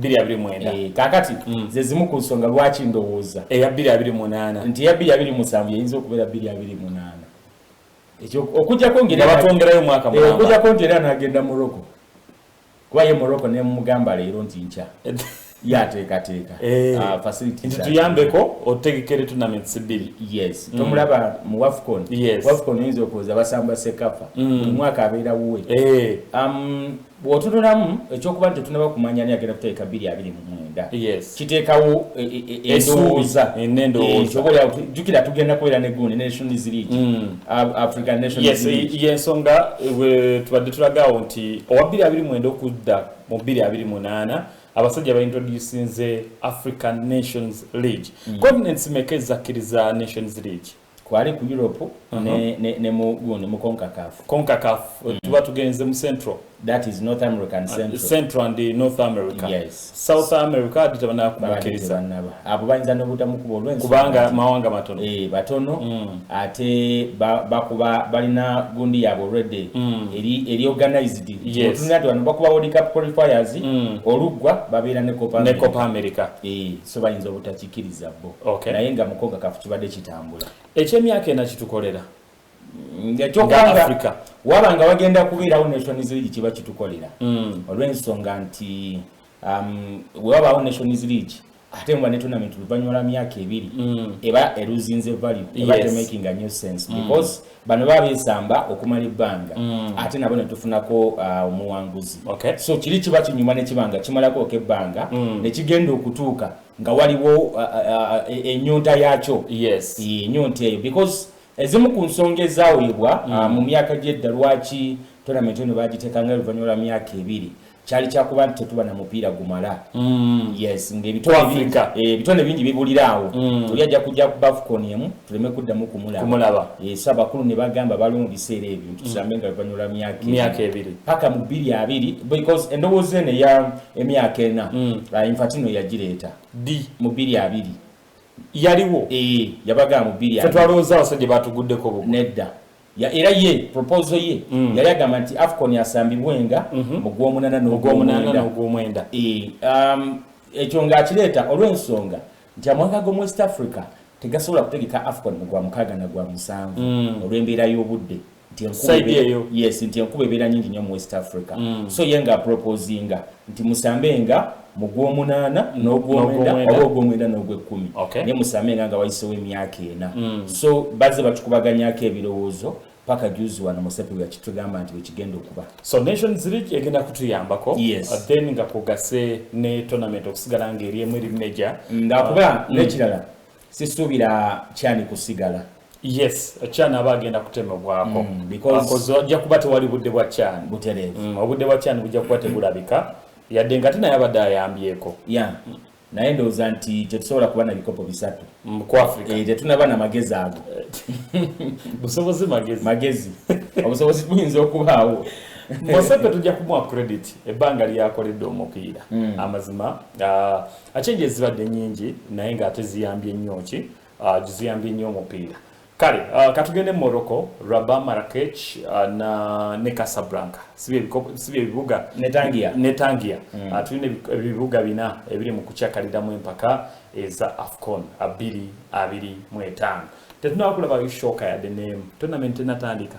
229 eh, kakati mm. ze zimu ku nsonga lwaki ndowooza eya 228 nti eya 227 yeyinza okubeera 228 ekyo okujjako ngebatwongerayo mwaka eh, okujjako nti era nagenda morocco kuba ye morocco nemugamba leero nti nkya yateekateeka eh. ah, facility nti tuyambeko otegekere tournaments bbiri yes mm. tomulaba mu wafcon wafcon oyinza okuwoza basamba sekafa mm. buli mwaka abeera wuwe um, bw'otunulamu ekyokuba nti tetunaba kumanya ani agenda kutegeka bbiri abiri mu mwenda kiteekawo e, e, e, endowooza enendowoozakyobaolyawo jjukira tugenda kubeera ne gundi nations league mm. african nations league yensonga tubadde tulagaawo nti owa bbiri abiri mwenda okudda mu bbiri abiri munaana abasajja baintroducinze african nations league mm. continents meka ezakkiriza nations league kwali ku Europe uh -huh. ne, ne, ne mu gundi mu Concacaf Concacaf mm. Eh, tuba tugenze mu Central that is North American ah, Central uh, Central and eh, North America yes South America adita bana kubakiriza abo bayinza no buta mukubo olwenzi kubanga mawanga matono eh batono mm. ate bakuba ba balina gundi yabo already mm. eri eri organized yes tunatu bano bakuba World Cup qualifiers mm. olugwa babira ne Copa America ne Copa America eh so bayinza obutakikiriza bo okay. naye nga mukoga kafu kibadde kitambula ekyemyaka ena kitukolera ngaafrica waba nga wagenda kubeerawo nations league kiba kitukolera mm. olw'ensonga nti um, wewabaawo nations league ate muba ne tournament luvannyuma lwa myaka ebiri mm. eba eruzinze value eba yes. making a new sense mm. because mm. bano baba besamba okumala ebbanga mm. ate nabo netufunako uh, omuwanguzi okay. so kiri kiba kinyuma nekibanga kimalako oka ebbanga mm. nekigenda okutuuka nga waliwo uh, uh, uh, e, enyonta uh, uh, yakyo yes. enyonta eyo because ezimu ku nsonga ezawebwa uh, mm. uh, mu myaka gyedda lwaki tournament eno bagitekanga oluvannyuma lwa myaka ebiri kyali kyakuba nti tetuba na mupiira gumala mm. yes ngaebitone eh, bingi bibulira awo mm. tuli ajja kujja ku bafcon emu tuleme kuddamu kumulaba esa eh, bakulu ne bagamba baliwo mu biseera ebyo nti mm. tusambe nga luvanyula myaka ebiri paka mu bbiri abiri because endowooza eno eya emyaka ena ah, infatino yagireeta di mu bbiri abiri yaliwo eh, yabagamba mu bbiri abiri fetwalowooza abasajja batuguddeko nedda ya era ye proposal ye mm. yali agamba nti afcon yasambibwenga mm -hmm. mu gw'omunana n'ogw'omwenda e, um, ekyo ng'akireeta olw'ensonga nti amawanga g'omu west africa tegasobola kutegeka afcon mu gwa mukaaga na gwa musanvu mm. olw'embeera y'obudde yes nti enkuba ebeera nyingi nnyo mu west africa mm. so ye nga proposinga nti musambe nga mu gwomunaana n'ogwomwenda oba ogwomwenda n'ogwekkumi naye musaame nga nga wayisewo emyaka ena mm. so bazze batukubaganyako ebirowoozo paka juzi wano musepe yakitugamba nti wekigenda okuba so nations league egenda kutuyambako yes. Uh, then nga kugase ne tournament okusigala nga eri emu eri meja nga kuba mm. nekirala sisuubira kyani kusigala yes kyani aba agenda kutemebwako mm, because wajja kuba tewali budde bwa kyani butereevu mm, obudde bwa kyani bujja kuba tebulabika yadde nga tinaye abadde ayambyeko yeah. mm. naye ndowooza nti tetusobola kuba na bikopo bisatu mm, eh, tetunaba na magezi ago busobozi magezi magezi obusobozi buyinza okubaawo mosebe tujja kumuwa credit ebbanga lyakoledde omupiira mm. amazima ah, Achenje zibadde nyingi naye nga ate ziyambye nnyo ki uh, ziyambye nnyo omupiira kale uh, katugende mu Morocco Rabat Marrakech uh, na ne Casablanca sibi ebibuga netangia netangia mm. uh, tulina ebibuga bina ebiri mu kukyakalidamu empaka eza AFCON abiri abiri mu etaano tetunakulaba ishoka yadde nemu tonamenti tenatandika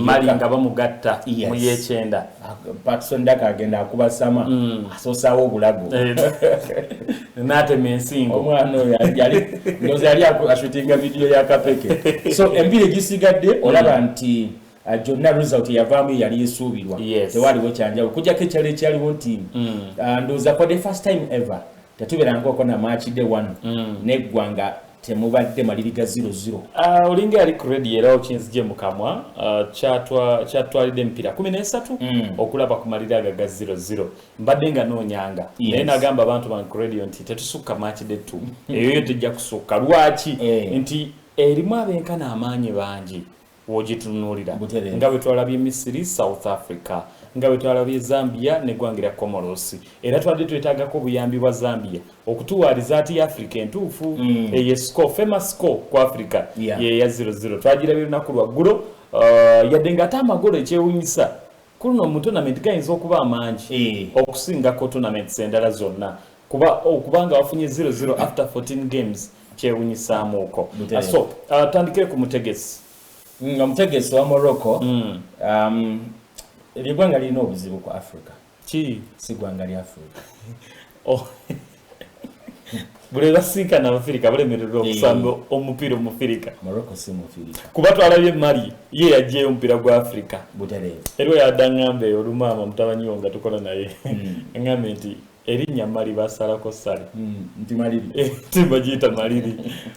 mali nga bamugatta mu yekyenda patson daka agenda akubasama mm. asosawo obulago eh, natema ensingo omwana oyo ndozi yali ashutinga vidiyo ya kapeke so embiri egisigadde mm. olaba nti uh, gyonna result yavaamu yali esuubirwa tewaliwo kyanjawo okujako ekyalo ekyaliwo nti mm. uh, ndoza for the first time ever tetuberangaoko namakide wano mm. neggwanga temubadde maliriga ziro ziro uh, olinga yali kuredi era okinzije mukamwa uh, kyatwalidde emipira kumi nesatu mm. okulaba ku maliri aga ga ziro ziro mbadde nga noonyanga yes. naye nagamba abantu ba kuredio nti tetusukka makide tu mm. eyoyo tejja kusukka lwaki eh. nti erimu abenkana amaanyi bangi W'ogitunuulira, nga bwe twalabye Misiri, South Africa, nga bwe twalabye Zambia n'eggwanga erya Comoros, era twabadde twetaagako obuyambi bwa Zambia okutuwa rizaati Afrika entuufu mm. eyo esiko famous siko ku Afrika yeya 00 twagirabye lunaku lwaggulo uh, yadde ng'ate amagolo ekyewunyisa kuluno mu tournament gayinza okuba amangi eh. okusingako tournaments endala zonna kuba okuba nga wafunye 00 after 14 games kyewunyisaamuuko ah, so ah, tandikire ku mutegesi mm, nga mutegesi wa morocco mm. um, lyegwanga lirina obuzibu ku africa ki si gwanga lya africa oh. buli basinkana abafirika bulemererwa eh. okusamba omupiira omufirika kuba twalabye mali ye yajjayo omupiira gwa afirika eriwo yadaŋŋamba eyo olumaama mutabanyiwo nga tukola naye hmm. ŋŋambe nti erinnya mali basalako sali tibagiyita maliri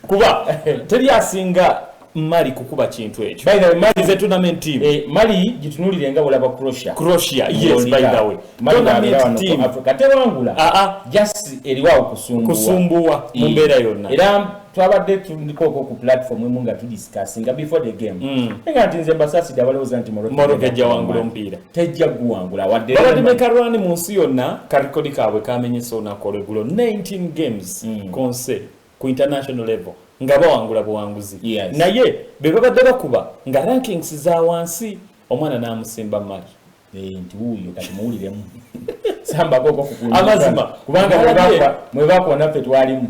kuba teri asinga mali kukuba kintu ekyo by the way mali ze tournament team eh mali gitunulire nga bulaba croatia croatia yes by the way tournament team africa tewangula a ah, a ah. just eriwa kusumbuwa kusumbuwa eh, mumbera yonna era twabadde tuliko ko ku platform emu nga tudiscuss nga before the game mm. nga tinze basasi dabale ozanti moroke moroke jawangula mpira tejja guwangula wadde babadde ne karwani mu nsi yonna karikodi kaabwe kamenyesa olunaku olwegulo 19 games mm. konse ku international level nga bawangula buwanguzi yes. naye be babadde bakuba nga rankings za wansi omwana n'amusimba mali eh, nti wuuyo kati muwuliremu amazima kubanga mwe bakwa naffe twalimu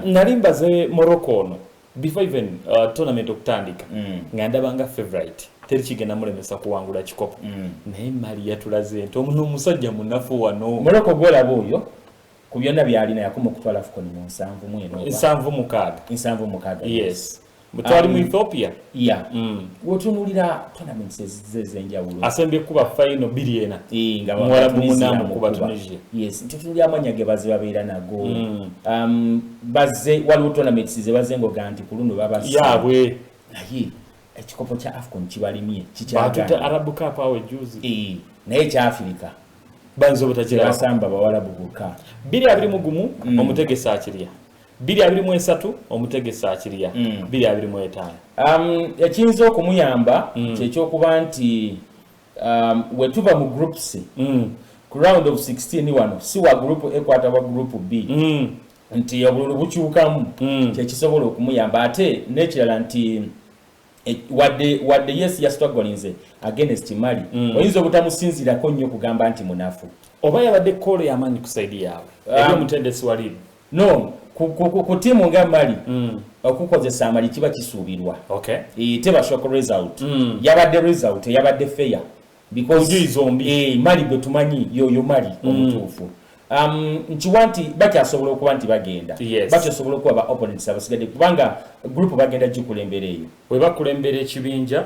nali mbaze morocco ono before even uh, tournament okutandika mm. nga ndaba nga favorite teri kigenda mulemesa kuwangula kikopo mm. naye mali yatulaze nti omuno omusajja munafu wano muloko gwolaba oyo ku byonna byalina yakuma okutwala fukoni mu nsanvu mweno nsanvu mukaaga nsanvu mukaaga yes mutwali um, mu ethiopia ya yeah. mm. wotunulira tournaments zezenjawulo asembye kuba final biri ena eh, nga mwala bumuna mu kuba Tunisia yes nti tuli amanya ge bazi babera nago mm. um baze wali utona mix ze baze ngo ganti kuluno baba ya we ayi ekikopo cha afcon kibali mie chicha ba tuta arabu cup awe juzi eh na ye cha afrika banzo butagira basamba bawala buguka biri abiri mugumu mm. omutegesa akiriya biri abiri mu esatu omutegesi akirya mm. biri abiri mu etaano um, ekiyinza okumuyamba mm. kyekyokuba nti um, wetuva mu groups mm. ku round of 16 wano si wa group a kwata wa group b mm. nti obululu bukyukamu mm. kyekisobola okumuyamba ate nekirala nti e, wadde wadde yes yasitwagolinze against mali mm. oyinza obutamusinzirako nnyo kugamba nti munafu oba yabadde koolo yamanyi kusaidi yaabwe um, eri omutendesi waliimu no ku, ku, ku, ku tiimu nga mali mm. okukozesa amali kiba kisuubirwa okay. e, teba shock result mm. yabadde result yabadde fair because zombi e, mali gwe tumanyi yoyo mali mm. omutuufu um, nkiwa nti bakyasobola okuba nti bagenda yes. bakyasobola okuba ba opponents abasigadde kubanga group bagenda gikulembera eyo webakulembera ekibinja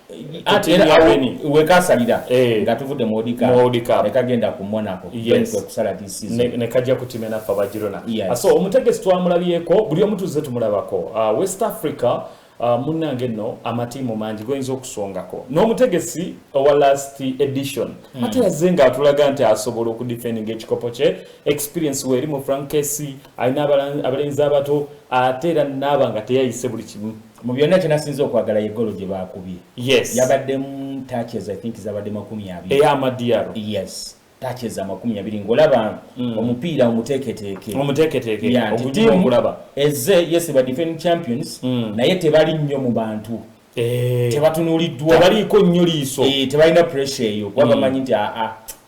wekasalira eh. nga tuvudde muodikaekagenda ku monaco kwekusala nekajja kutima enaffe abagirona ah, so omutegesi twamulabyeko buli omu tuzze tumulabako ah, west africa ah, munnange nno amatiimu mangi goyinza okusongako n'omutegesi owa last edition hmm. ate yazze nga atulaga nti asobola okudifendinga ekikopo kye experience weeri mu frankesi alina abalenzi abato ate era naaba nga teyayise buli kimu mu byonna kyenasinza okwagala ye golo gye baakubye yes. yabaddemu touches i think zabadde makumi abiri eyamadiyaro yes touches amakumi abiri ng'olaba mm. omupiira omuteeketeeke omuteeketeeke okulaba eze yes ba defending champions mm. naye tebali nnyo mu bantu eh. tebatunuliddwa tebaliiko nnyo liiso eh, tebalina pressure eyo kuba mm. bamanyi nti aa ah, ah,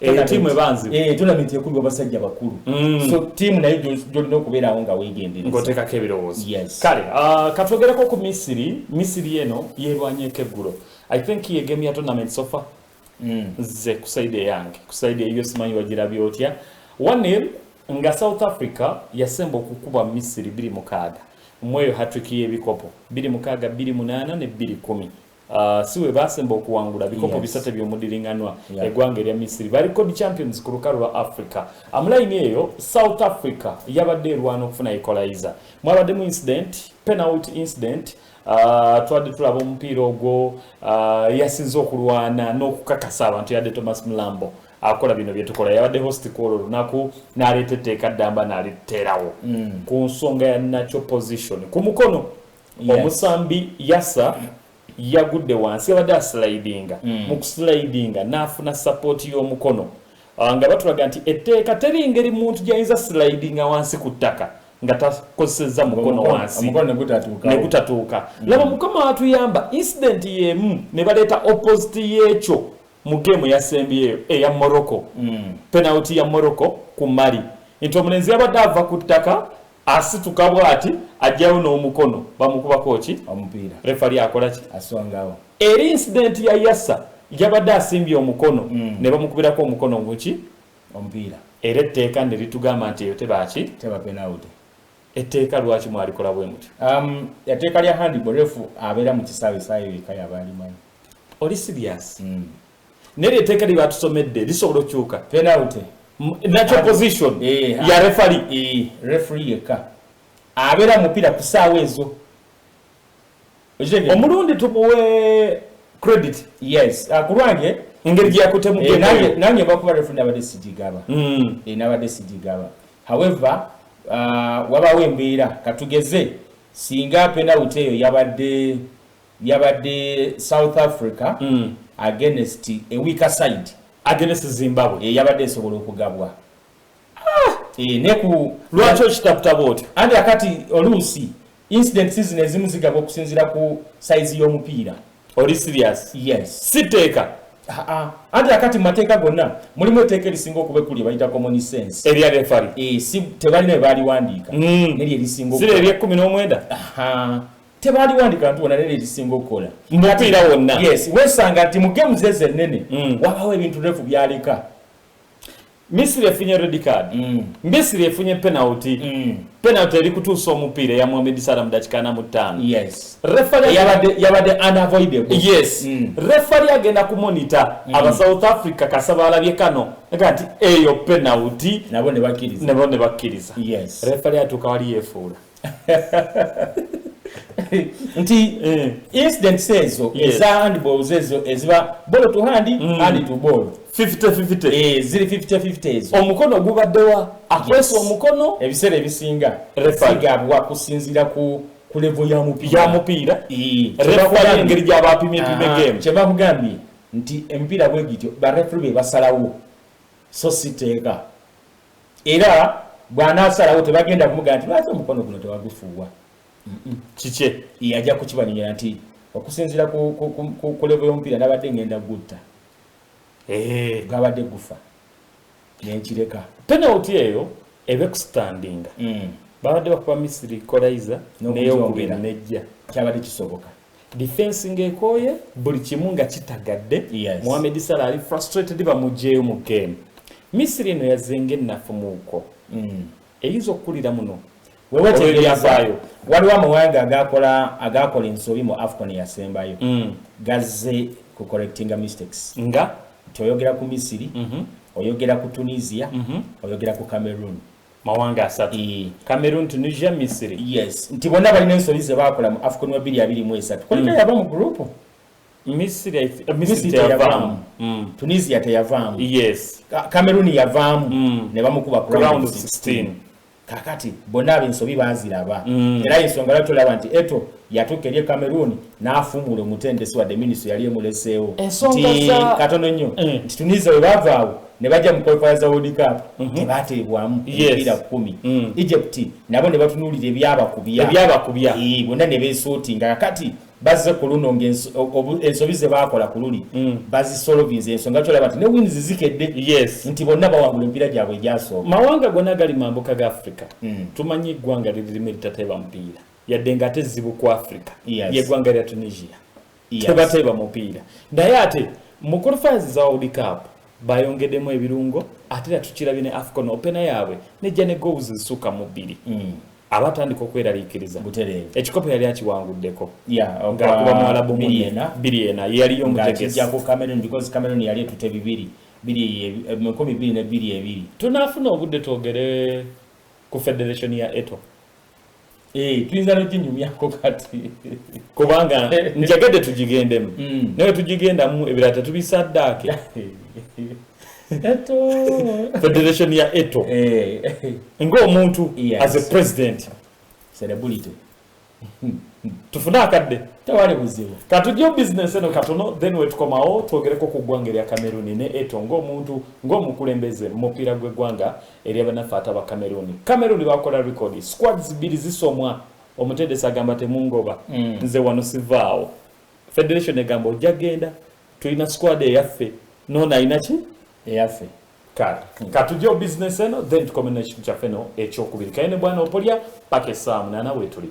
Eh, tiimu ebanzibu eh, tournament ekulu abasajja bakulu mm. so tiimu nayo gyolina okubeerawo nga weegenderezaoteekako ebirowoozo kale ah, katwogereko ku misiri misiri eno yeerwanyeko eggulo i think yegemu ya tournament sofa mm. nze ku saidi eyange ku saidi eyiyo simanyi wagirabye otya wanil nga south africa yasemba okukuba misiri biri mukaaga mweyo hatrick y'ebikopo biri mukaaga biri munaana ne biri kumi Uh, si we baasemba okuwangula bikopo yes. bisatu eby'omudiringanwa yeah. eggwanga erya misiri ba record champions ku lukalu lwa africa amulayini ah, eyo south africa yabadde erwana okufuna equalizer mwabaddemu incident penalty incident Ah, twadde tulaba omupiira ogwo ah, yasinze okulwana n'okukakasa abantu yadde thomas mulambo akola bino byetukola yabadde host kwolwo lunaku naleeta etteeka ddamba naliterawo mm. ku nsonga ya natural position ku mukono omusambi yasa yagudde wansi yabadde asilidinga mm. mu kusilidinga n'afuna sapooti y'omukono ah, nga batulaga nti etteeka teri ngeri muntu gyayinza silidinga wansi ku ttaka nga takozesezza mukono wansi ne gutatuuka mm. laba mukama watuyamba insidenti y'emu ne baleeta opposite y'ekyo mu geemu yasembyeyo eya morocco mm. penaliti ya morocco ku mali nti omulenzi yabadde ava ku ttaka asituka bwati ajjawo n'omukono bamukubako ki omupiira refali akola ki asongawo eri incident ya yasa yabadde asimbye omukono mm. ne bamukubirako omukono muki omupiira era etteeka ne litugamba nti eyo tebaki teba penalty etteeka lwaki mwalikola bwe mutyo um, etteeka lya handball refu abeera mu kisaawe saayo yeka yaba alimanyi oli serious mm. Neri eteka liba tusomedde lisobola okyuka. Penalty. Natural position eh, ya referee. Eh, referee yeka. Abera mupira kusawa ezo. Omulundi tubuwe credit. Yes. Akulwange ah, engeri gyeyakutemu eh, nange bakuba refu nabadde sigigaba hmm. eh, nabadde sigigaba however uh, wabawo embeera katugeze singa penalty eyo yabadde Yabadde South Africa mm. against a weaker side against Zimbabwe e, yabadde esobola okugabwa ah! e, neku lwaki okitaputa bwotyo anti akati oluusi incident season ezimu zigabwa okusinzira ku saizi y'omupiira oli serious yes siteeka ah, ah. anti akati mu mateeka gonna mulimu eteeka erisinga okuba ekuli ebayita common sense erya refari e, si tebalina ebaaliwandiika mm. neri erisinga sire eryekumi n'omwenda tebaliwandika nti wona nene ekisinga okukola mupiira wonna yes wesanga nti mu gemu zeze ennene mm. wabawo ebintu refu byaleka misiri efunye red card mm. misiri efunye penalty mm. penalty eri kutuusa omupiira eya mohamed sala mu dakika ana mu ttaano yes. yabadde unavoidable yes mm. refali agenda ku monita mm. aba south africa kasa balabye kano aga nti eyo penalty nabo ne bakkiriza yes. refali atuuka wali yefuula nti eh. incidents ezo eza handballs ezo eziba bolo to hand mm. hand to ball 50-50 eh, ziri 50-50 ezo omukono gubaddewa akwesa omukono ebiseera ebisinga sigabwa kusinzira ku ku levo ya mupiira ya mupiira eh. refa engeri gyaba apimye pime game kye bakugambye nti emipiira bwe gityo ba refri be basalawo so siteeka Era bw'anaasalawo tebagenda kumugamba nti lwaki omukono guno tewagufuuwa. Kikye ye ajja kukibanyonyola nti okusinziira ku levo y'omupiira nabadde ngenda gutta eh. gwabadde gufa nenkireka penalty eyo ebe kustandinga mm. babadde bakuba misiri kolaiza neyokubira nejja kyabadde kisoboka Defense ng'ekooye buli kimu nga kitagadde yes. Mohamed Salah ali frustrated bamugyeyo mu game Misiri eno yazze ng'ennafu muuko mm. eyinza okukulira muno wewetegeryavaayo waliwo amawanga agakola agakola ensobi mu afcon yasembayo mm. gazze ku correctinga mistakes nga toyogera ku misiri mm -hmm. oyogera ku tunisia mm -hmm. oyogera ku cameroon mawanga asatu mm. Cameroon Tunisia Misiri yes nti bonna balina ensobi ze baakola mu Afcon wa bbiri abiri mu esatu kuliko mm. yava mu group Misiri eh, Misiri teyavaamu mm. Tunisia teyavaamu yes Cameroon yavaamu mm. ne bamukuba ku round 16 kakati bonna abensobi baziraba mm. era ensonga lwaki olaba nti eto yatuuka eri e Cameroon n'afuumuula omutendesi wadde minisitule yali emuleseewo nti katono nnyo mm. nti Tunisia bwe baavaawo ne bajja mu qualifiers za World Cup mhm. tebateebwamu emipiira kkumi mm. Egypt nabo ne batunuulira ebyabakubya ebyabakubya bonna ne beesootinga kakati bazze ku luno ng'ensobi ze baakola ku luli mm. bazisolovinza ensonga kyolaba nti ne wins zikedde nti bonna bawangula emipiira gyabwe egyasooka mawanga gonna gali mambuka ga africa tumanyi eggwanga liririmu eritateeba mupiira yadde nga ate zibu ku africa yes. yegwanga lya tunisia yes. tebateeba mupiira naye ate mu qualifiers za world cup bayongedemu ebirungo ate era tukirabye ne afcon opena yaabwe nejja ne goals zisuka mu bbiri mm. abatandika okweraliikiriza ekikopo yali akiwanguddeko ngaakuba muwalabu biri ena yeyaliyo omutegesameroni yali etute bibiri biri tunafuna obudde twogere ku federation ya eto Eh, tuyinza noginyumyako kati kubanga njagadde tugigendemu mm. naye tugigendamu ebirala tetubisaddaake federation ya eto eh. ngaomuntu as a president celebrity tufune akadde tewali buzibu katujjo business eno katono then wetukomawo twogereko ku ggwanga erya kameruni ne eto ngaomuntu ngaomukulembeze mu mupiira gw'eggwanga eri abanaffe ate aba Cameroon Cameroon bakola record squads bbiri zisomwa omutendesi agamba temungoba mm. nze wano sivaawo federation egamba ojja genda tulina squad eyaffe nono alina ki eyaffe kale mm. katujeo business eno then tukomena ekintu kyaffe no ekyokubiri kaye ne bwana opolya paka esaamu nana wetuli